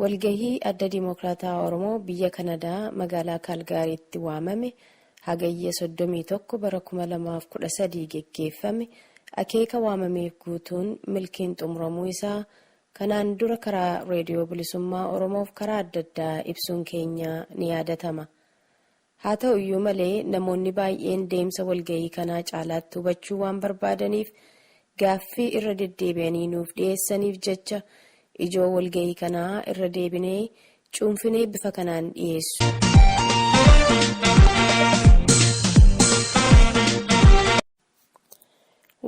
Walgahii Adda Dimokiraatawaa Oromoo biyya Kanadaa magaalaa Kaalgaariitti waamame Hagayya 31 bara 2013 geggeeffame akeeka waamameef guutuun milkiin xumuramuu isaa kanaan dura karaa Reediyoo Bilisummaa Oromoof karaa adda addaa ibsuun keenya ni yaadatama. Haa ta'u iyyuu malee, namoonni baay'een deemsa walga'ii kanaa caalaatti hubachuu waan barbaadaniif, gaaffii irra deddeebi'anii nuuf dhiheessaniif jecha, ijoo walga'ii kanaa irra deebinee cuunfinee bifa kanaan dhiheessu.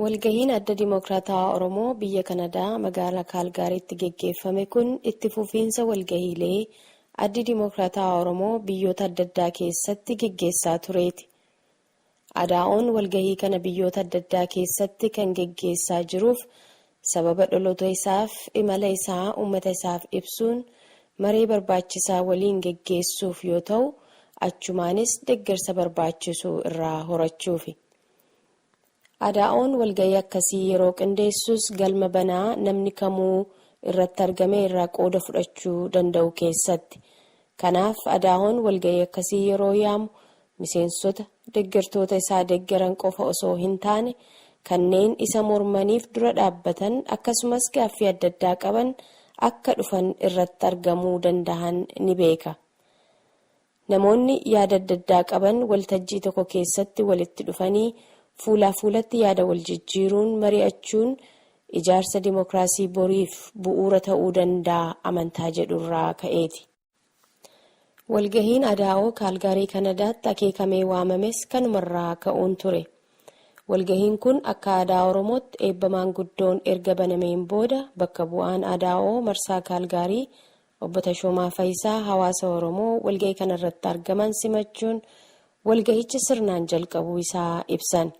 Walgahiin Adda Dimookiraatawaa Oromoo biyya Kanadaa magaala Kaalgaariitti geggeeffame kun itti fufiinsa walgahiilee Addi Dimookiraatawaa Oromoo biyyoota addaddaa keessatti geggeessaa tureeti. ADAOn walgahii kana biyyoota addaddaa keessatti kan geggeessaa jiruuf sababa dholota isaaf imala isaa ummata isaaf ibsuun maree barbaachisaa waliin geggeessuuf yoo ta'u achumaanis deggersa barbaachisu irraa horachuufi. Adaa'oon walga'ii akkasii yeroo qindeessus galma banaa namni kamuu irratti argamee irraa qooda fudhachuu danda'u keessatti. Kanaaf Adaa'oon walga'ii akkasii yeroo yaamu miseensota deggertoota isaa deggeran qofa osoo hin taane kanneen isa mormaniif dura dhaabbatan akkasumas gaaffii adda addaa qaban akka dhufan irratti argamuu dandahan ni beeka. Namoonni yaada adda addaa qaban waltajjii tokko keessatti walitti dhufanii fuulaa fuulatti yaada wal jijjiiruun mari'achuun ijaarsa dimokiraasii boriif bu'uura ta'uu danda'a amantaa jedhu irraa ka'eeti. Walgahiin Adaa'oo Kaalgaarii Kanadaatti akeekamee waamames kanuma irraa ka'uun ture. Walgahiin kun akka aadaa Oromootti eebba maanguddoon erga banameen booda bakka bu'aan Adaa'oo marsaa Kaalgaarii Obbo Tashoomaa Fayisaa hawaasa Oromoo walga'ii kanarratti argaman simachuun walga'icha sirnaan jalqabuu isaa ibsan.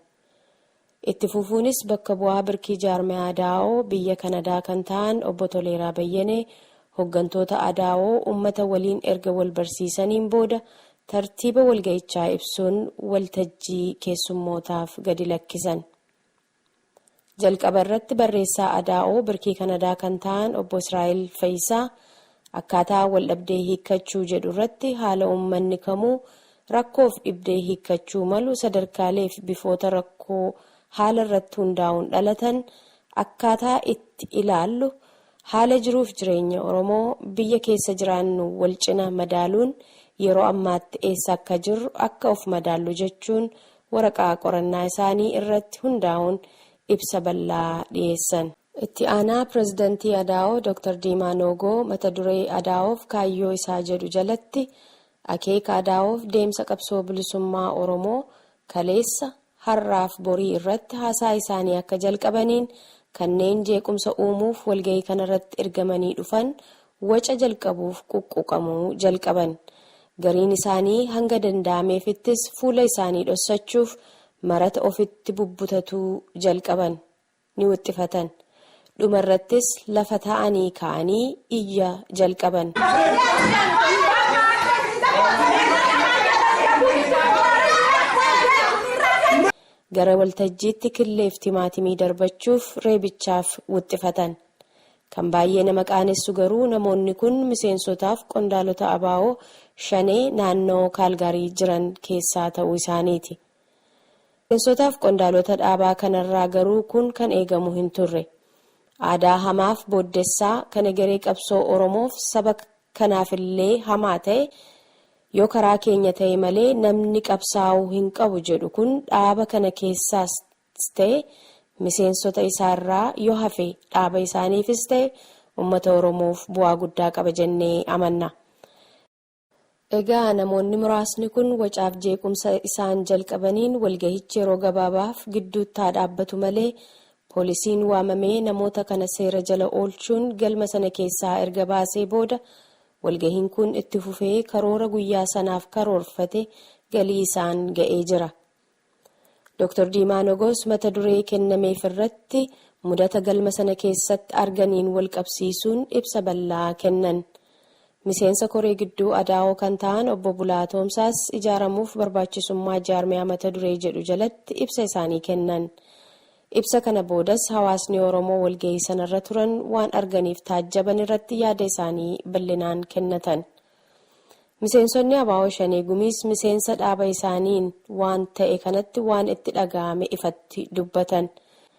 Itti fufuunis bakka bu'aa birkii jaarmaya Adao biyya Kanadaa kan ta'an Obbo Toleeraa Bayyanee hoggantoota Adao ummata waliin erga wal barsiisaniin booda tartiiba walga'ichaa ibsuun waltajjii keessummootaaf gadi lakkisan. Jalqaba irratti barreessaa Adaa'oo Birkii Kanadaa kan ta'an Obbo Israa'el Fayisaa akkaataa waldhabdee hiikkachuu jedhu irratti haala uummanni kamuu rakkoof dhibdee hiikkachuu malu sadarkaaleef bifoota rakkoo haala irratti hundaa'uun dhalatan akkaataa itti ilaallu haala jiruuf jireenya Oromoo biyya keessa jiraannu walcina madaaluun yeroo ammaatti eessa akka jirru akka of madaallu jechuun waraqaa qorannaa isaanii irratti hundaa'uun ibsa bal'aa dhiyeessan. Itti aanaa pirezidantii Adaawoo Dr. Diimaa Noogoo mata duree Adaawoof kaayyoo isaa jedhu jalatti akeeka Adaawoof deemsa qabsoo bilisummaa Oromoo kaleessa, har'aaf borii irratti haasaa isaanii akka jalqabaniin kanneen jeequmsa uumuuf walgahii kanarratti ergamanii dhufan waca jalqabuuf quqquqamuu jalqaban. Gariin isaanii hanga danda'ameefittis fuula isaanii dhossachuuf marata ofitti bubbutatuu jalqaban. Ni wixxifatan. Dhuma irrattis lafa taa'anii ka'anii iyya jalqaban. Gara waltajjiitti killeef timaatimii darbachuuf reebichaaf wixxifatan. Kan baay'ee nama qaanessu garuu namoonni kun miseensotaaf qondaalota abo Shanee naannoo Kaalgaarii jiran keessaa ta'uu isaaniiti. Miseensotaaf qondaalota dhaabaa kanarraa garuu kun kan eegamu hin turre. Aadaa hamaaf booddessaa kan egeree qabsoo Oromoof saba kanaafillee hamaa ta'e yoo karaa keenya ta'e malee namni qabsaa'uu hin qabu jedhu kun dhaaba kana keessaas Ts ta'e miseensota isaa irraa yoo hafe dhaaba isaaniifis ta'e ummata Oromoof bu'aa guddaa qaba jennee amanna. Egaa namoonni muraasni kun wacaaf jeequmsa isaan jalqabaniin walgahichi yeroo gabaabaaf gidduutti haa dhaabbatu malee poolisiin waamamee namoota kana seera jala oolchuun galma sana keessaa erga baasee booda walgahiin kun itti fufee karoora guyyaa sanaaf karoorfate galii isaan ga'ee jira. Doktar Diimaa Nogoos mata duree kennameef irratti mudata galma sana keessatti arganiin wal qabsiisuun ibsa bal'aa kennan. Miseensa Koree Gidduu Adaawoo kan ta'an Obbo Bulaa Toomsaas ijaaramuuf barbaachisummaa jaarmiyaa mata duree jedhu jalatti ibsa isaanii kennan. Ibsa kana boodas hawaasni Oromoo walgahii sanarra turan waan arganiif taajjaban irratti yaada isaanii bal'inaan kennatan. Miseensonni abo Shanee Gumiis miseensa dhaaba isaaniin waan ta'e kanatti waan itti dhaga'ame ifatti dubbatan.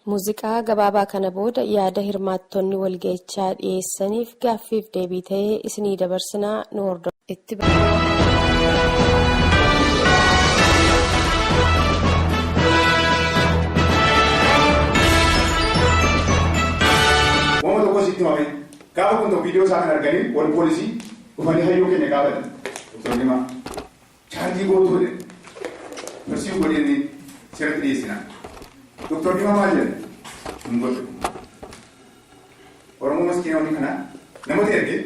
Muuziqaa gabaabaa kana booda yaada hirmaattonni walga'ichaa dhiyeessaniif gaaffiif deebii ta'e isinii dabarsina nu hordofaa. Wama tokko sitti himame Gaafa kun tokko video isaa kan arganii warri poolisii dhufanii hayyuu keenya gaafatan. Doktor Dimaa chaarjii gootuu jedhan. Persiiw godhee inni seeratti dhiyeessina. Doktor Dimaa maal jedhan? Hin godhu. Oromoo maskiina hojii kana namatti ergee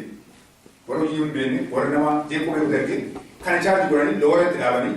warra hojii hin beekne warra nama jeequu beeku ergee kana chaarjii godhanii loora itti dhaabanii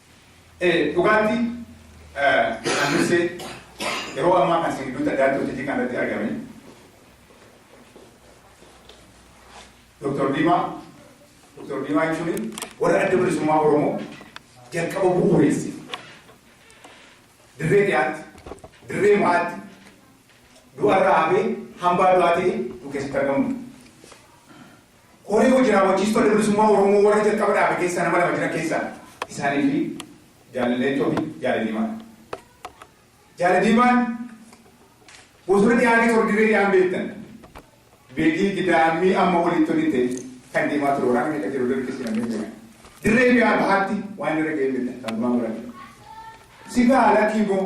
Ee, dhugaatti eh, kan dursee yeroo ammaa kan isin gidduutti addaatti hojjetii kan irratti argame Dr. Diimaa Dr. Diimaa jechuun warra adda bilisummaa Oromoo jalqaba bu'uureesse dirree dhiyaatti dirree ba'aatti du'arraa hafee hambaa du'aa ta'e nu keessatti argamu. Koree Hojii Raawwachiistuu Adda Bilisummaa Oromoo warra jalqaba dhaabe keessaa nama lama jiran keessaa isaanii fi Jaal Leencoo fi Jaal Diimaa dha. Jaal Diimaan bosona dhihaa keessa warri dirree dhihaan beektan beetii gidaammii amma olitti oli ta'e kan deemaa ture waraana meeqa jiru dirree keessa namni beekan. Dirree dhihaa bahaatti waan irra ga'ee beektan kan gumaan godhan. Sigaa lakkii boo.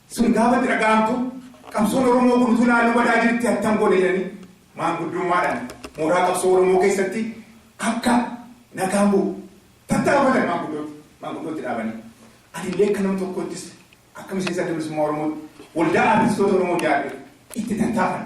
Sun gaafa itti dhaga'amtu qabsoon Oromoo kun utuu ilaaluu badaa jirti attam goona jedhanii maanguddummaadhaan mooraa qabsoo Oromoo keessatti akka nagaan bu'u tattaafatan maanguddootti maanguddootti dhaabanii. Anillee akka nama tokkoottis akka miseensa Adda Bilisummaa Oromootti waldaa aartistoota Oromoo ijaarre itti tattaafan.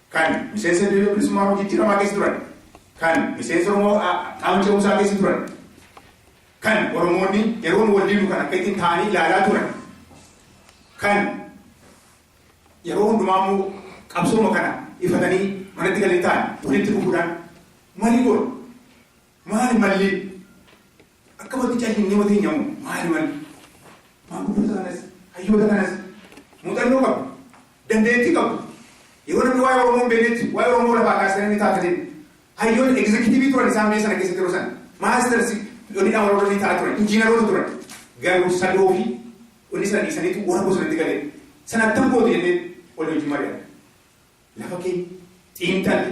kan miseensa Adda Wayne Bilisummaa Oromoo jijjiiramaa keessa turan, kan miseensa Oromoo qaama ce'umsaa keessa turan, kan Oromoonni yeroon wal didu kan akkattiin taa'anii ilaalaa turan, kan yeroo hundumaa immoo qabsooma kana ifatanii manatti kan hin taane walitti dhufuudhaan marii goona. Maali malli akka wati calli nama teenya moo maali malli maanguddoota kanas hayyoota kanas muuxannoo qabu dandeettii qabu yeroo namni waa'ee Oromoo hin beeknetti waa'ee Oromoo lafaa kaasanii ni taataniin hayyoonni egzekitiivii turan isaan biyya sana keessatti yeroo sana maastarsi dhonidhaan warra hojii ta'aa turan injiinaroota turan garuu sadoo fi wanni sana dhiisaniitu warra bosonatti galee sana attam goote jennee wal hojii mari'an lafa keenya xiinxalli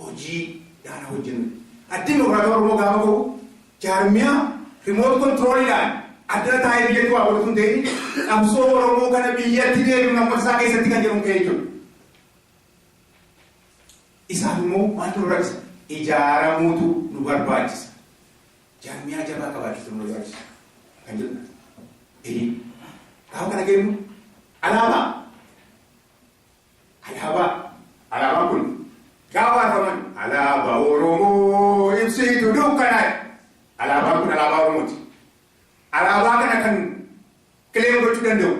hojii gaara hojjennu. Addi Dimokiraatawaa Oromoo gaafa ka'u jaarmiyaa remote control dhaan addana taa'ee biyyatti waa godhu utuu hin ta'in qabsoo Oromoo kana biyyatti deebi'uun ammata isaa keessatti kan jedhuun ka'ee jiru. Isaaf immoo maaltu nu rakkisa? Ijaaramuutu nu barbaachisa. Jaarmiyaa jabaa qabaachuutu nu barbaachisa kan jedhu. Eeyyee. Gaafa kana geenyu alaabaa Alaabaa, Alaabaan kun gaafa arfaman Alaabaa Oromoo ibsiitu dukkanaa'e. Alaabaan kun Alaabaa Oromooti. Alaabaa kana kan kileem gochuu danda'u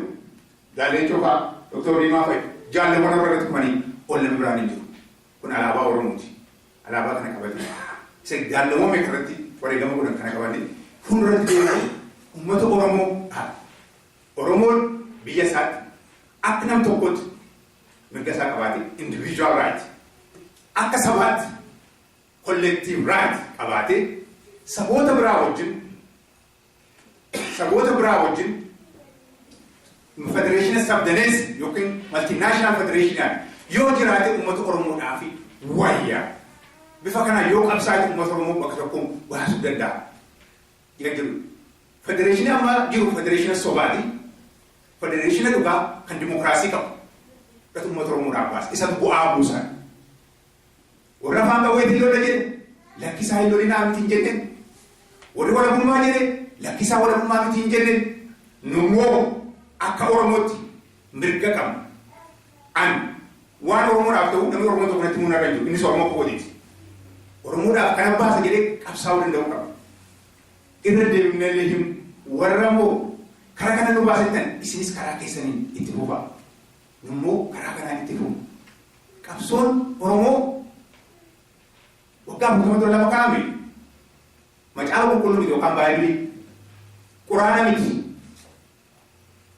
Jaal Leencoo fa'a, Doktor Diimaa fa'i, jaalleewwan warra irratti kufanii ol namni biraan hin jiru. Kun Alaabaa Oromooti. Alaabaa kana qabatee isa jaalleewwan meeqa irratti wareegama godhan kana qabatee fuulduratti deemanii uummata Oromoo dhaaba. Oromoon biyya isaatti akka nam tokkootti mirga isaa qabaatee, individual right, akka sabaatti collective right qabaatee saboota biraa wajjin saboota biraa wajjin federeeshina sabdaneessa yookiin maltinaashinaal federeeshinaan yoo jiraate uummata Oromoodhaa fi wayya. Bifa kanaan yoo qabsaa'e uummata Oromoo bakka tokkoon baasuu danda'a. Jira jiru. Federeeshinii amma jiru federeeshina sobaati. Federeeshina dhugaa kan dimokiraasii qabu. Dhatu uummata Oromoodhaaf baase. Isatu bu'aa buusan. Warra afaan qawweetiin lola jedhe lakkisaa hin lolinaa miti hin jenne. Warri walabummaa jedhe lakkisaa walabummaa miti hin jenne. Nummoo akka Oromootti mirga qabna. An waan Oromoodhaaf ta'u namni Oromoo tokko natti himuu narra hin jiru. Innis Oromoo kootiti. Oromoodhaaf kana baasa jedhee qabsaa'uu danda'uu qaba. Irra deebifnee illee himna. Warra immoo karaa kana nu baasa jettan isinis karaa keessaniin itti fufaa. Nu immoo karaa kanaan itti fufna. Qabsoon Oromoo waggaa afurtama dura lafa kaa'ame macaafa qulqulluu miti yookaan baay'ee Quraana miti.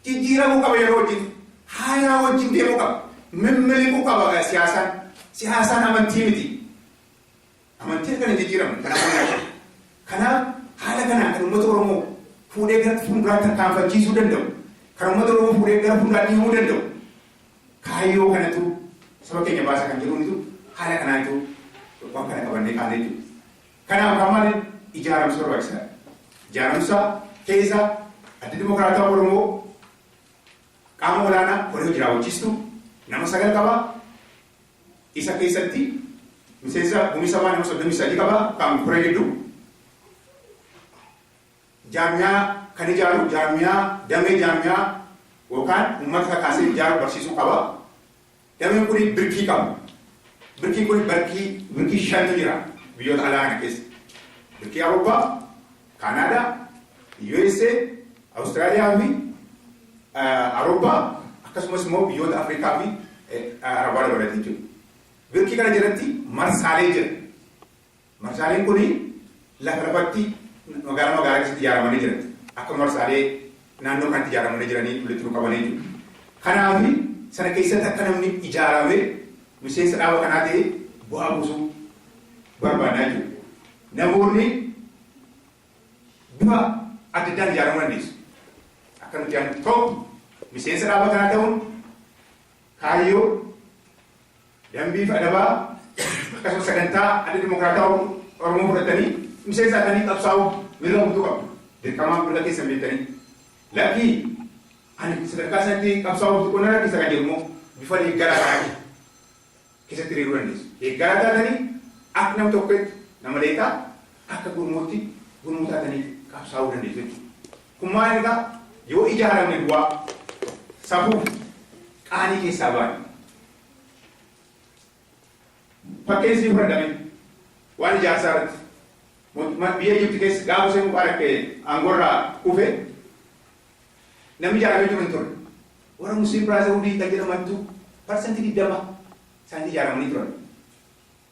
Jijjiiramuu qaba yeroo wajjin. Haalaa wajjin deemuu qaba. Mimmiliquu qaba siyaasaan. Siyaasaan amantii miti. Amantii akka hin jijjiiramne kan amanne. Kanaaf haala kanaan kan uummata Oromoo fuudhee gara fuulduraatti tarkaanfachiisuu danda'u. Kan uummata Oromoo fuudhee gara fuulduraatti himuu danda'u. Kaayyoo kanatu saba keenya baasa kan jedhuunitu haala kanaa jiru waan kana qabannee kaanee jiru. Kanaaf kaa maaliif ijaaramsi barbaachisaa dha? Ijaaramsa keessa Addi Dimokiraatawaa Oromoo qaama olaanaa koree hojii raawwachiistuu nama sagal qaba. Isa keessatti miseensa gumii sabaa nama 33 qaba kan koree gidduu. Jaarmiyaa kan ijaaru jaarmiyaa damee jaarmiyaa yookaan uummata kakaasee ijaaru barsiisuu qaba. Dameen kuni birkii qaba. Birkiin kuni barkii birkii shantu jira biyyoota alaa kana keessa. Birkii Awurooppaa, Kaanaadaa, USA, Awustiraaliyaa fi Awurooppaa akkasumas immoo biyyoota Afrikaa fi Arabaa dabalatee jechuudha. Birkii kana jalatti marsaalee jira. Marsaaleen kun lafa lafatti magaalaa magaalaa keessatti ijaaramanii jiran akka marsaalee naannoo kanatti ijaaramanii jiranii walitti nu qabanii jiru. Kanaaf sana keessatti akka namni ijaaramee miseensa dhaaba kanaa ta'ee bu'aa buusuu barbaadnaa jechuudha. Namoonni bifa adda addaan ijaaramuu dandeessu. Akka nuti yaadnu tokko miseensa dhaaba kanaa ta'uun kaayyoo Dambii fi adabaa akkasumas sagantaa Adda Dimokiraatawaa Oromoo fudhattanii miseensa taatanii qabsaa'uuf mirga guutuu qabdu. Dirqamaa fi mirga keessan beektanii lakkii ani sadarkaa sanatti qabsaa'uuf xiqqoo na rakkisa kan jedhu immoo bifa deeggaraa taatee keessatti hiriiruu dandeessu. Deeggaraa taatanii akka nama tokkeetti nama leeqaa akka gurmuutti gurmuu taatanii qabsaa'uu dandeessu jechuudha. Kun maal egaa yoo ijaaramne duwwaa safuuf qaanii keessaa baane Fakkeen siin fudhatame waan ijaarsaa irratti mootummaa biyya Ijipti keessa gaafa Huseen Mubaarak aangorraa kufe namni ijaaramee jiru hin turre. Warra Musliim Biraazarhuudii kan jedhamantu parsantii digdama isaanii ijaaramanii turan.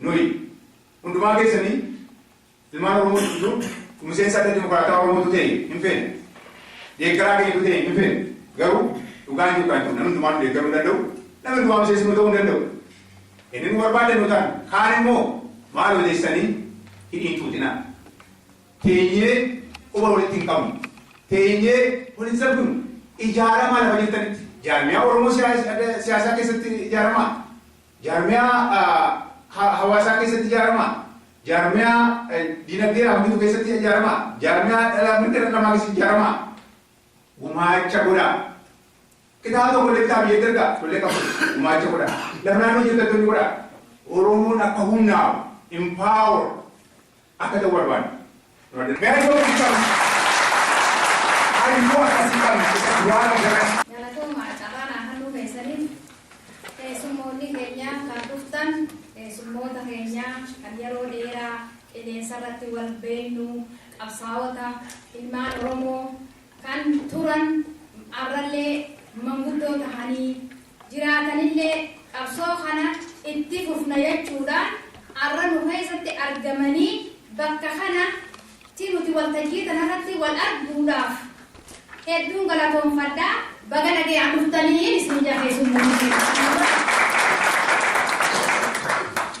Nuyi, hundumaa keessanii, ilmaan Oromoo hunduu, tu miseensa Adda Dimokraatawaa Oromoo tu ta'e hin feenu. Deeggaraa keenya tu ta'e hin feenu. Garuu, dhugaan jiru kana tu, namni hundumaa nu deeggaruu hin danda'u, namni hundumaa miseensa nu ta'uu hin danda'u. Inni nu barbaaddan yoo ta'an, kaan immoo maaloo teessanii hidhii hin xuuxinaa. Teenyee quba walitti hin qabnu. Teenyee wal hin salphifnu. Ijaaramaa lafa jirtanitti. Jaarmiyaa Oromoo siyaasa, adda siyaasaa keessatti ijaaramaa. Jaarmiyaa hawaasaa keessatti ijaaramaa? Jaarmiyaa dinagdee hawwitu keessatti ijaaramaa? Jaarmiyaa dhala mirga dhala namaa keessatti ijaaramaa? Gumaacha godhaa. Kitaaba tokko illee kitaaba biyyatti ergaa tollee qabu gumaacha godhaa. Lafa naannoo jirtattoonni godhaa. Oromoon akka humnaa'u, empower, akka ta'u barbaanna. Gara yoo itti qabnu, hariiroo akkasii qabna isa duraa fi gara. Galatoomaa carraa naa kannuu keessaniif. Keessummoonni keenya kan dhuftan keessummoota keenya kan yeroo dheeraa qilleensarratti wal beennu, qabsaawota, ilmaan Oromoo, kan turan arrallee manguddoo tahanii jiraatanillee qabsoo kana itti fufna jechuudhaan arra nu keessatti argamanii bakka kana tti nuti waltajjii tana irratti wal arguudhaaf hedduun galatoomfadha. Baga nagayaan dhuftaniin isin ja'a keessummoota keenya.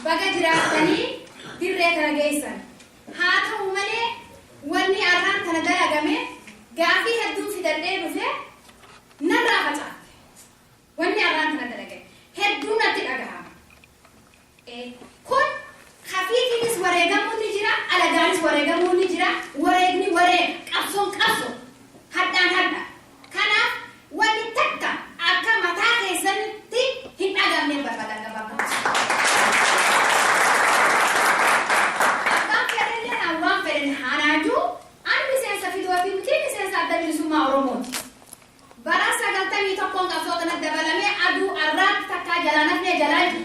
Baga jiraattanii dirree tana geessan. Haa ta'u malee, wanni arraan tana dalagameef gaaffii hedduun fidadhee dhufe narraa facaatte. Wanni arraan tana dalagame hedduu natti dhagahama. Ee, kun kafiitiinis wareegamuun ni jira, alagaanis wareegamuun ni jira, wareegni wareega, qabsoon qabsoo, hardhaan hardha, Kanaaf wanni takka akka mataa keessanitti hin dhagamneen barbaada gabaabumatti isinitti. Abbaan fedhellee anaan waan fedhen haa naa juu ani miseensa fdo fi miti miseensa Adda Bilisummaa Oromooti. Bara 91n qabsoo tanatti dabalamee aduu arraatti takkaa jalaan hafnee jalaa jirra.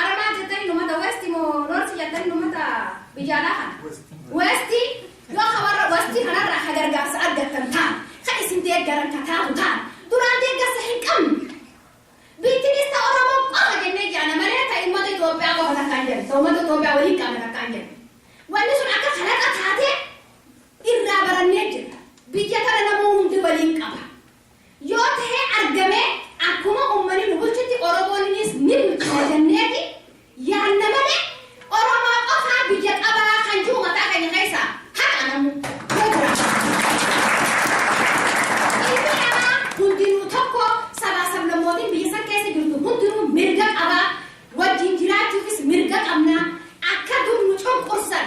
Ara maal jettani numata west moo north jettani numata biyya alaa kana? West yoo ka warra west kanarraa ka gargaarsa argattan taate, ka isin deeggaran ka taatu taate, duraan deeggarsa hin qabnu. Biittinis ta Oromoo qofa jennee jaana malee ta immata Itoophiyaa qofa takka hin jennu, ta ummata Itoophiyaa waliin qabna takka hin jennu. Wanni sun akka kalaqa taatee irraa barannee jirra. Biyya tana namuu hundi waliin qaba. yoo tahee argamee akkuma ummani nu bulchutti oromooniniis ni bulchina janneeti yaanna malee oromoo qofaa biyya qabaa kan jihu mataa keenya keessaa haqa namuu yoo jiraate ilmi namaa hundinuu tokko sabaa sablammootiin biyya san keessa jirtu hundinuu mirga qabaa wajjiin jiraachuufis mirga qabnaa akka dur nu cunqursan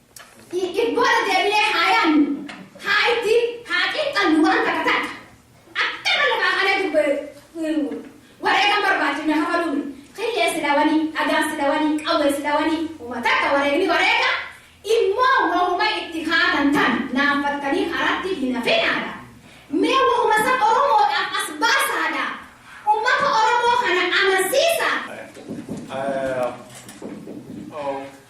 Ibbooda deebinee haa yaannu, haa itti haa xiinxallu waan takka takka. Akka nama lafaa kanee dubbee wareegama barbaachifne kafaluu miti. Killee sila wanii, dhagaan sila wanii, qawween sila wanii, homa takka wareegni wareega immoo wahuma itti kaatan tan naanfattanii karaatti hin hafinaadha. Mee wahuma san Oromoodhaaf as baasaadha. Ummata Oromoo kana amansiisaa.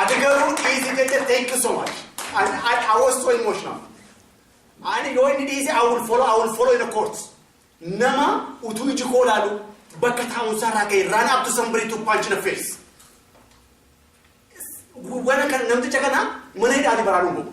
Ati garuu dhiisi jette thank you so much. I, I, I was so emotional. Ani yoo inni dhiise I will follow, I will follow in the courts. Nama utuu iji koo laalu bakka taa'umsaa irraa ka'e run up to somebody to punch in the face. Wana kan namticha kana mana hidhaati baraaruun bobu.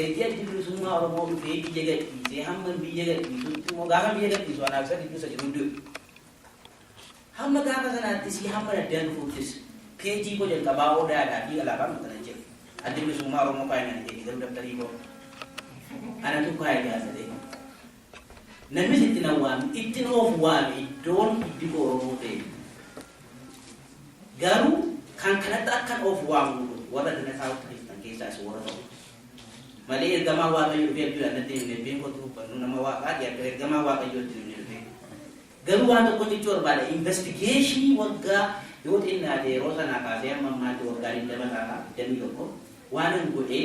Ergi Addi Bilisummaa Oromoo dhufee biyya gadhiisee hamman biyya gadhiisutti immoo gaafan biyya gadhiisu anaafisa gidduu isa jiru du'e. Hamma gaafa sanaattisii hamman addaan dhufuuttis peejii koo jalqabaa Odaadhaa fi alaabaan maxxanan jira. Addi Bilisummaa Oromoo kaayee naan hin jenne garuu dabtarii koo anatu kaayee jaallate. Namnis itti nan waame, ittin of waame iddoon iddikoo Oromoo ta'e. Garuu kan kanatti akkan of waamu godhu warra gana taa'utti dhiftan keessaa isin warra tokko. Malee ergamaan Waaqayyoo dhufee abjuudhaan natti hin himne ebbeen kottu hubbannu nama Waaqaati akka ergamaan Waaqayyoo itti hin himne dhufee. Garuu waan tokko jechuu barbaada investigeeshinii waggaa yoo xinnaate yeroo sanaa kaasee amma ammaatti waggaa 20 ta'a 21 waanan godhee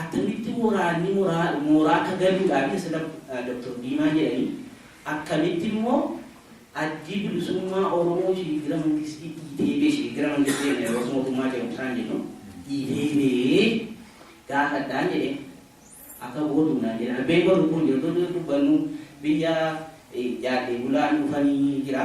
Attamitti woraanni moraa mooraa akka galuu dhaa fi asirra Doktor Diimaa jedhani akkamitti immoo Addi Bilisummaa Oromoo Shiigira Mangistii dhiitee bee Shiigira Mangistii jenna yeroos mootummaa ce'umsaan jennu dhiitee bee gaafadhaan jedheen akka gootu naan jedhan Abbeen koo lubbuun jirtu dubbannu biyya jaaddee bulaan dhufanii jira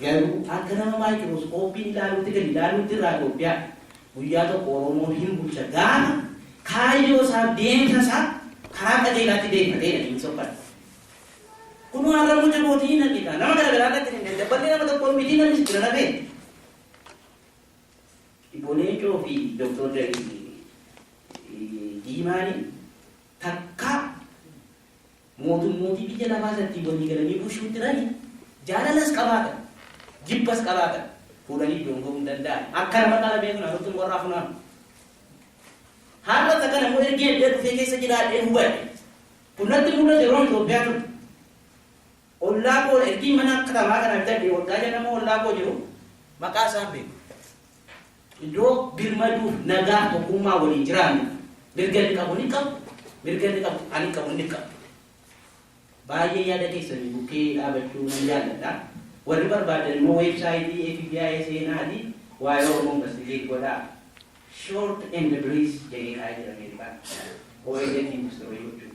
Garuu akka nama maayikirooskooppiin ilaaluutti gadi ilaaluutti irraa Itoophiyaan guyyaa tokko Oromoon hin bulcha gaafa kaayyoo isaa deemsa isaa karaa qajeelaatti deeffatee dha inni sokkate. Kunoo har'a immoo jabootii hin argita. Nama garaagaraa irratti hin argita. Dabballee nama tokkoon mitii namni si bira dhabee. Obbo Leencoo fi Dooktor Diimaanii takkaa Mootummootii biyya lafaa irrattii walii galanii bulshuu tirani, jaalalas qabaatan, jibbas qabaatan, fuudhanii iddoon ga'uu hin danda'an. Akka nama qara beeknu anuttu muka irraa funaanu. Har'a takka namuu ergii addee dhufee keessa jiraadhee hubadhe. Kun natti mul'ate yeroon Itoophiyaa ture. Ollaa koo ergiin mana katamaa kana bitadhee waggaa 6 nama ollaa koo jiru maqaa isaa hin beeku. Iddoo birmaduuf nagaan tokkummaa waliin jiraannuuf mirga inni qabu ni qabu mirga inni qabu ani qabu inni qabu. Baay'ee yaada keessanii bukkee dhaabachuu nan jaalladha. Warri barbaadan immoo weebsaayitii FBI seenaati waa'ee Oromoo investigate godhaa. Short and brief jedhee kaa'ee jira Ameerikaan. ONF industirii gochuuf.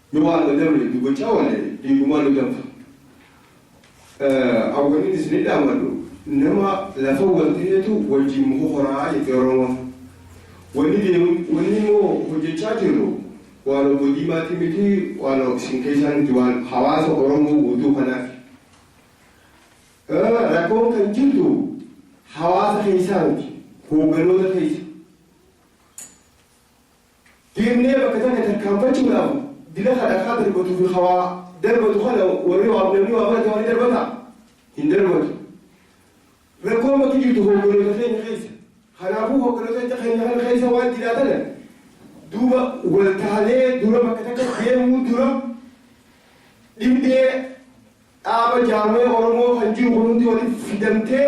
Ni waala namni dubacha waale dhiigumaa ni danfa Ahh wanin isini dhaamadhu nama lafa wal tahetu wajjin mokokoraa jetti oromoon Wani deemu wani moo hojjachaa jirru waan obbo diimaati miti waan isin keessaa miti waan hawaasa oromoo guutuu kanaafi Ahh rakkoon kan jirtu hawaasa keessaa miti hoogganoota keessa. Deemnee bakka tana tarkaanfachuudhaaf dila ka dhakaa darbatuu fi ka waa darbatu kana warri waa namni waa barate waa ni darbataa? Hin darbatu. Rakkoon bakki jirtu hoogganoota keenya keessa. Kanaafuu hoogganoota keenya kana keessa waan jiraa tana duuba wal taanee dura bakka takka deemuu dura dhibdee dhaaba jaarmaya Oromoo kan jiru kun hundi walitti fidamtee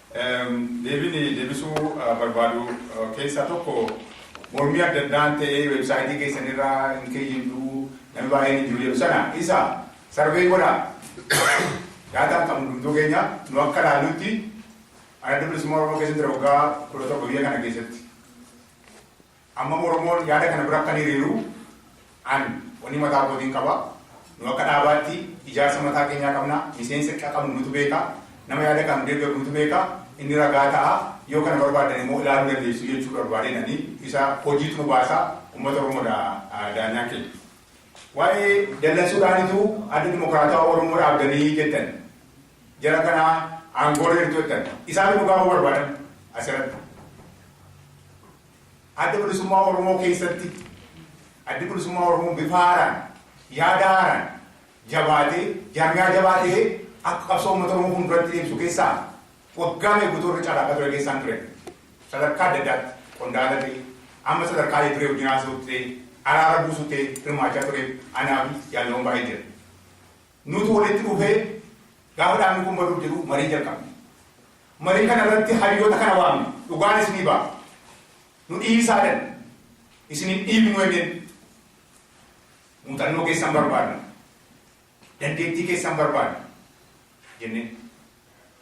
Deebiin deebisuu barbaadu keessaa tokko mormii adda addaan ta'ee website keessan irra hin keeyyinnu namni baay'een hin jiru jedhu sana isa survey godhaa daataan qabnu hundumtuu keenya nu akka ilaallutti Adda Bilisummaa Oromoo keessatti waggaa 17 biyya kana keessatti Ammam Oromoon yaada kana bira akka ni hiriiru an wanni mataa kootiin qaba. Nu akka dhaabaatti ijaarsa mataa keenyaa qabna. Miseensa qqa qabnu nutu beeka. Nama yaada kana nu deeggaru nutu beeka. Inni ragaa ta'a. Yoo kana barbaaddan immoo ilaaluu dandeessu jechuu barbaadeen ani. Isa hojiitu nu baasa. Ummata Oromoo dha daanyaan keenya. Waa'ee dallansuudhaanitu Adda Dimokiraatawaa Oromoo dhaabdanii jettan. Jara kana aangoorra jirtu jettan. Isaatu dhugaa bahuu barbaadan asirratti. Adda Bilisummaa Oromoo keessatti Addi Bilisummaa Oromoo bifa haaraan, yaada haaraan jabaatee, jaarmiyaa jabaa ta'ee akka qabsoo uummata Oromoo fuulduratti deemsu keessaa waggaa meeqa guutuu irra carraaqaa ture keessaa hin ture. Sadarkaa adda addaatti qondaala ta'ee, amma sadarkaa Hayyu Duree wajjin haasa'uutti ta'ee, araara buusuutti ta'ee hirmaachaa ture anaa fi jaallan baay'ee jira. Nuti walitti dhufee gaafa dhaabni kun baduuf jedhu marii jalqabne. Marii kana irratti hayyoota kana waamne dhugaan isinii ba'a. Nu dhiisaa jedhan. Isin hin dhiibnu jenneen. Muuxannoo keessan barbaadna. Dandeettii keessan barbaadna jenneen.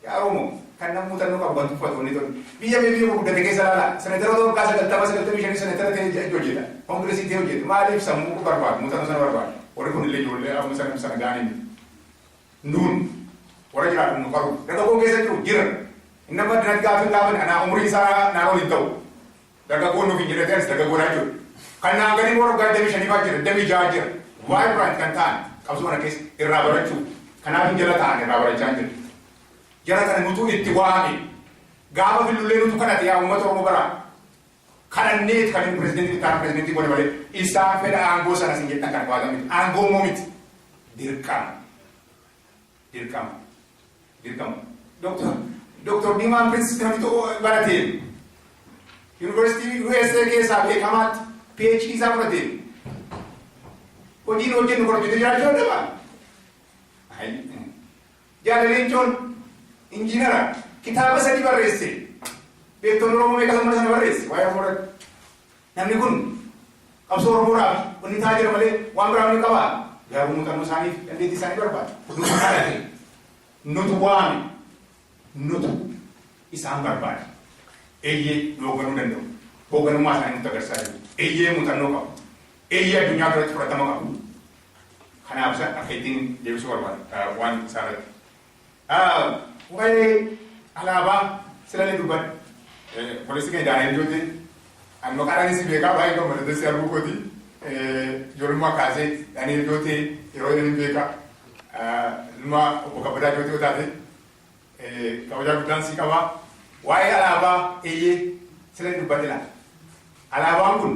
Yaa Oromoo! Kan nama muuxannoo qabu kan tuffatu wanni tun biyya biyya biyya guddate keessa laala. Seneteroota waggaa sagaltama sagaltamii shanii senetera ta'ee ji'a itti hojjeta. Kongiresii ta'ee hojjeta. Maaliif sammuu barbaadu muuxannoo sana barbaadu. Warri kun illee ijoollee amma sana sana ga'anii miti. Nuun warra jiraadhu nu qaru. Dargaggoon keessa jiru jira. Inni amma addunyaatti gaaffii hin gaafane anaa umuriin isaa naa ol hin ta'u. Dagagoo nuuf hin jedhati anis dagagoodhaa jiru. Kan naan gadii immoo waggaa 25 faa jira 26 jira. Vibrant kan ta'an qabsoo kana keessa irraa barachuu. Kanaafin jala taa'an irraa barachaan jira. Jara kana nutu itti waame. Gaafa fillullee nutu kadhate yaa uummata Oromoo baraa. Kadhanneet kan inni pirezidentii ittaana pirezidentii godhe malee isaan fedha aangoo sana sin jettan kana baatan miti. Aangoo immoo miti. Dirqama. Dirqama. Dirqama. Doktor Doktor Diimaan Prince namni tokko barateen yuunivarsiitii USA keessaa beekamaatti PhD isaa fudhateen hojiin hojjennu kan hojjete jiraachuu danda'aa? Jaalaleenchoon injiinara kitaaba sadii barreesse beektoonni Oromoo meeqa sana barreesse waa'ee Oromoo irratti. Namni kun qabsoo Oromoodhaaf wanni ta'aa jira malee waan biraa wanni qabaa? Garuu muuxannoo isaaniif dandeettii isaanii barbaada. Nutu kadhate, nutu waame, nutu isaan barbaade. Eeyyee nu hoogganuu danda'u. Hoogganummaa isaanii nutti agarsiisaa jiru. Eeyyee muuxannoo qabu. Eeyyee addunyaa biratti fudhatama qabu. Kanaaf isa akka ittiin deebisuu barbaada waan isaarratti. Waa'ee alaabaa silalee dubbadhe. Obboleessi keenya Daani'el Jootee ani maqaadhaan si beekaa baay'ee gammadadha si arguu kooti. Ijoollummaa kaasee Daani'el Jootee yeroo jedhan hin beeka. Ilma obbo Kabbadaa Jootee yoo taate kabajaa guddaan si qaba. Waa'ee alaabaa eeyyee silalee dubbadhe laata. Alaabaan kun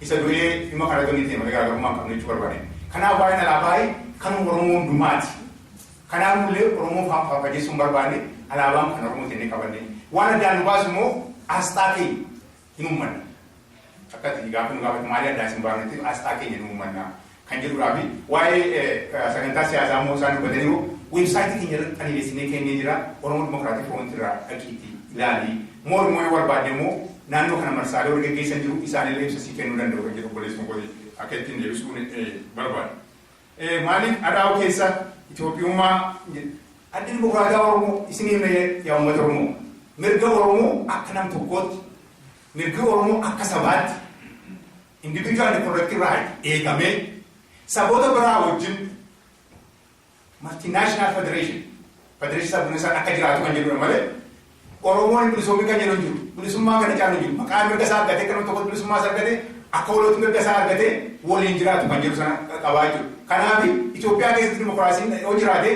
Isa du'ee ilma kana irra ni ta'e malee garaagarummaa hin qabnu jechuu barbaade. Kanaaf waa'een alaabaa kanuma Oromoo hundumaati. Kanaaf nullee Oromoo faaffajeessuu hin barbaanne alaabaan kan Oromoo jennee qabanne. Waan addaan nu baasu immoo asxaa keenya hin uummanna. Akka ati gaaffii nu gaafate maali addaan isin baafnetti asxaa keenya hin uummanna. kan jedhuudhaa fi waa'ee sagantaa siyaasaa immoo isaan dubbataniiru. Website keenya irratti xaliileessinee keennee jira. Oromo Democratic Front irraa dhaqiitti ilaali. More immoo yoo barbaadde immoo naannoo kana marsaalee warri geggeessan jiru isaan illee ibsa sii kennuu danda'u kan jedhu obboleessuma kooti akka ittiin deebisuun barbaada. Maaliif adhaa'u keessa Itoophiyummaa addi dimokiraataa Oromoo isin himne yaa uummata Oromoo mirga Oromoo akka nam tokkootti mirga Oromoo akka sabaatti Individual reproductive right eegamee saboota biraa wajjin multinational federation federation sabboona isaa akka jiraatu kan jedhudha malee Oromoon bilisoomi kan jedhu hin jiru. Bilisummaa kana caalu hin jiru. Maqaan mirga isaa argatee kan tokko bilisummaa isaa argatee akka walootti mirga isaa argatee waliin jiraatu kan jedhu sana qabaa jechuudha. Kanaaf Itoophiyaa keessatti dimokiraasiin yoo jiraate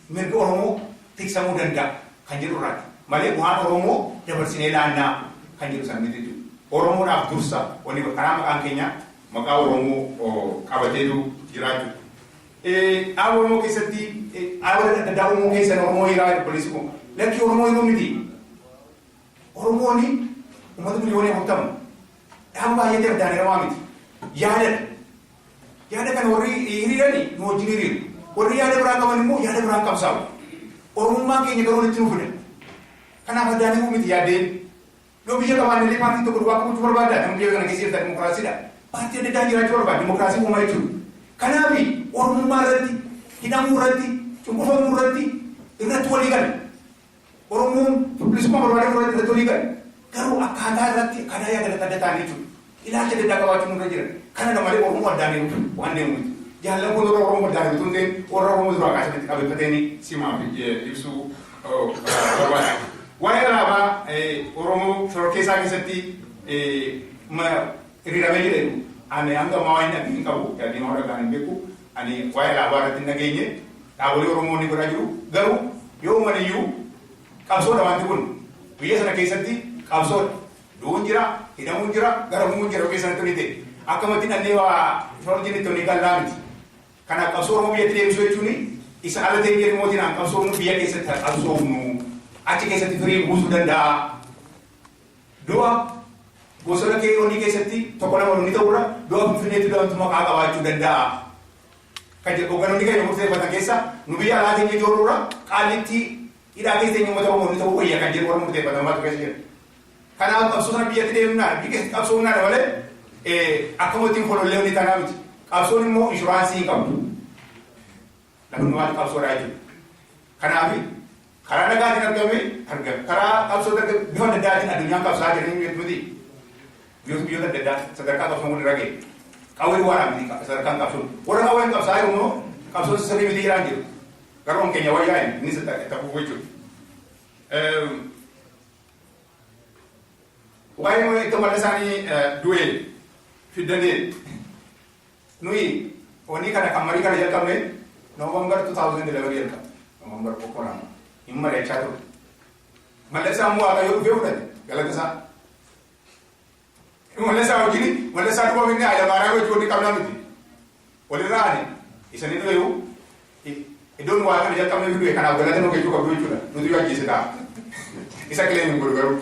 mirgi Oromoo tiksamuu danda'a kan jedhu irraati. Malee bu'aan Oromoo dabarsinee laannaa kan jedhu sana miti jechuudha. Oromoodhaaf dursa wanni karaa maqaan keenyaa maqaa Oromoo qabateetu jiraa jechuudha. Dhaaba Oromoo keessatti dhaaboleen adda addaa Oromoo keessan Oromoo hiraa jedhu obboleessi koo. Lakkii Oromoo hiruu miti. Oromooni uummata miliyoonii afurtama dhaaba baay'eetti addaan hiramaa miti. Yaadadha. Yaada kana warri hiriiran nu wajjin hiriiru. Warri yaada biraa qaban immoo yaada biraan qabsaa'u. Oromummaan keenya garuu walitti nu fida. Kanaaf addaan himuu miti yaaddeen. Yoo biyya qabaanne illee paartiin tokko duwwaa qabuutu barbaadda. Namni biyya kana keessa jirtan dimokiraasiidha. Paartii adda addaa jiraachuu barbaada. Dimokiraasii uumaa jechuudha. Kanaaf Oromummaa irratti, hidhamuu irratti, cunqurfamuu irratti irratti walii gala. Oromoon bilisummaa barbaadee fudhachuu irratti walii gale. Garuu akkaataa irratti akkaataa yaada adda adda ta'an jechuudha. Ilaalcha adda addaa qabaachuun nurra jira. Kanadha malee Oromoo addaan deemuuf waan deemu miti. Jaallan kun warra Oromoo addaan utuu hin ta'in warra Oromoo duraa kaasee walitti qabeeffateeni simaaf ibsuu barbaada. Waa'ee alaabaa Oromoo shororkeessaa keessatti hiriiramee jedhe ani hanga ammaa waan hin dhageenye hin qabu. Yaadni waan dhagaan hin beeku. Ani waa'ee dhaabaa irratti hin dhageenye, dhaabolee Oromoo ni godhaa jiru, garuu yoo uuman iyyuu qabsoodha waanti kun. Biyya sana keessatti qabsoodha. Du'uun jira, hidhamuun jira, garafamuun jira yoo biyya sanatti wanni ta'e. Akkamatti dhannee waa Firoorjinitti wanni gallaa miti. Kanaaf qabsoo Oromoo biyyatti deebisuu jechuun isa ala teenyee mootiin aan qabsoofnu biyya keessatti haa qabsoofnu. Achi keessatti firii buusuu danda'a. Du'a bosona KOD keessatti tokko lama wanni ta'u irra du'a Finfinneetti du'antu maqaa qabaachuu danda'aa? Kan jedhu hogganoonni keenya murteeffatan keessa nu biyya alaa teenyee joorru irra Qaallittii hidhaa keessa teenyee uummata Oromoo wanni ta'uu wayya kan jedhu warra murteeffatan maaltu keessa jira? Kanaaf qabsoo sana biyyatti deemnaan biyya keessatti qabsoo humnaa dha malee akkuma ittiin kolollee wanni taanaa miti. Qabsoon immoo inshuraansii hin qabdu. Namoonni maaliif qabsoo dhaa jiru? Kanaaf karaa nagaatiin argame argame karaa qabsoo darga bifa adda addaatiin addunyaan qabsaa jedhanii hin beektu miti. Biyyoota biyyoota adda addaa sadarkaa qabsoon walirra ga'e. Qawwee waaraa miti sadarkaan qabsoon. Warra qawween qabsaa jiru immoo qabsoon sirrii miti jedhaan jiru. Garuu kan keenya wayyaa inni innis itti hafuuf jechuudha. Waa'ee itti walda isaanii du'e fiddanee Nuyi wanni kana kan marii kana jalqabne November 2011 jalqabne. November tokko lama hin mari'achaa turre. Mallesaa immoo waaqayyoo dhufee fudhate galata isaa. Mallesaa wajjin mallesaa duuba minnee Hayilamaariyaam wajjin wanni qabnaa miti. Walirraa ani isanii dhufeeyu Iddoon waa kana jalqabne iyyuu du'e kanaaf galata nuu gechuu qabdu jechuudha. Nutu iyyuu ajjeese ta'a. Isa claim hin godhu garuu.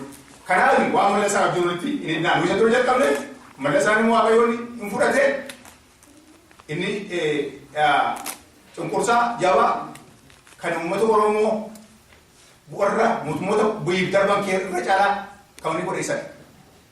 Kanaaf waan mala isaa abjuu nutti hin hidhinaa. Nu isa dura jalqabne mala isaa immoo waaqayyoon hin fudhate inni cunqursaa jabaa kan uummata Oromoo warra mootummoota bu'iif darban kee irra caalaa kan inni godhe isadha.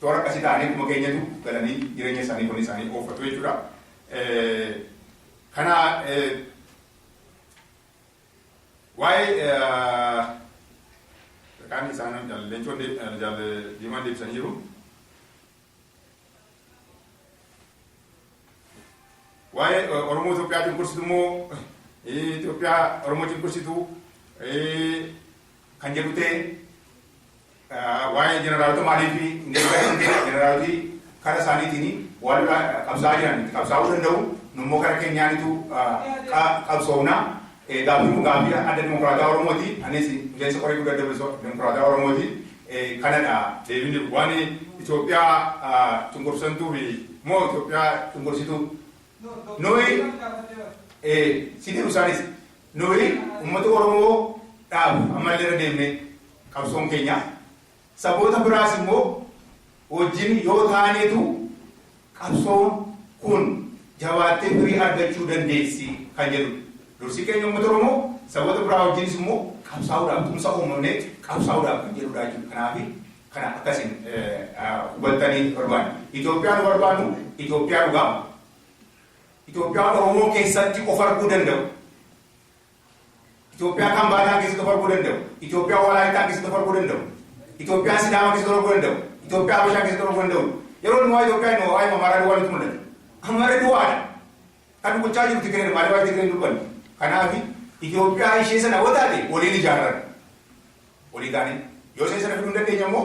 Toora akkasii ta'anii akkuma keenyatu galanii jireenya isaanii hojii isaanii oofatu jechuudha. Kana waa'ee kaan isaan leencoon diimaan deebisanii jiru. Waa'ee Oromoo Itoophiyaa cunqursitu immoo Itoophiyaa Oromoo cunqursitu kan jedhu ta'e Waa'ee jeneraalota maaliif hin deebi'an? Jeneraaloti kara isaaniitiin waan lolaa qabsaa'aa jiran itti qabsaa'uu danda'u. Nu immoo kara keenyaanitu qabsoofna. Gaaffiin kun gaaffii Adda Dimokiraataa Oromooti. Anis miseensa Koree Guddaa Adda Dimokiraataa Oromooti. Kanadha. Deebiin jiru waan Itoophiyaa cunqursantuu fi moo Itoophiyaa cunqursituu? Nuyi si deebisaanis Nuyi ummata Oromoo dhaabuuf ammallee irra deemnee qabsoon keenya saboota biraas immoo wajjin yoo taaneetu qabsoon kun jabaattee firii argachuu dandeessi kan jedhu dursi keenya ummata Oromoo saboota biraa wajjinis immoo qabsaa'uudhaaf tumsa uumamnee qabsaa'uudhaaf kan jedhudha jechuudha. Kanaafi kana akkasiin hubattanii barbaanna. Itoophiyaa nu barbaannu Itoophiyaa dhugaa Itoophiyaa Oromoo keessatti of arguu danda'u, Itoophiyaa Kambaataa keessatti of arguu danda'u, Itoophiyaa Walaayittaa keessatti of arguu danda'u, Itoophiyaa Sidaamaa keessatti of arguu danda'u, Itoophiyaa Habashaa keessatti of arguu danda'u. Yeroo inni waa'ee Itoophiyaa inni waa'ee Amaaraa duwwaa nutti mul'ata. Amaarri duwwaadha. Kan dubbachaa jiru Tigireedha. Maaliif waa'ee Tigiree hin dubbanne? Kanaaf Itoophiyaa ishee sana yoo taate waliin ijaarran. Walii taanee. Yoo ishee sana fiduu hin dandeenye immoo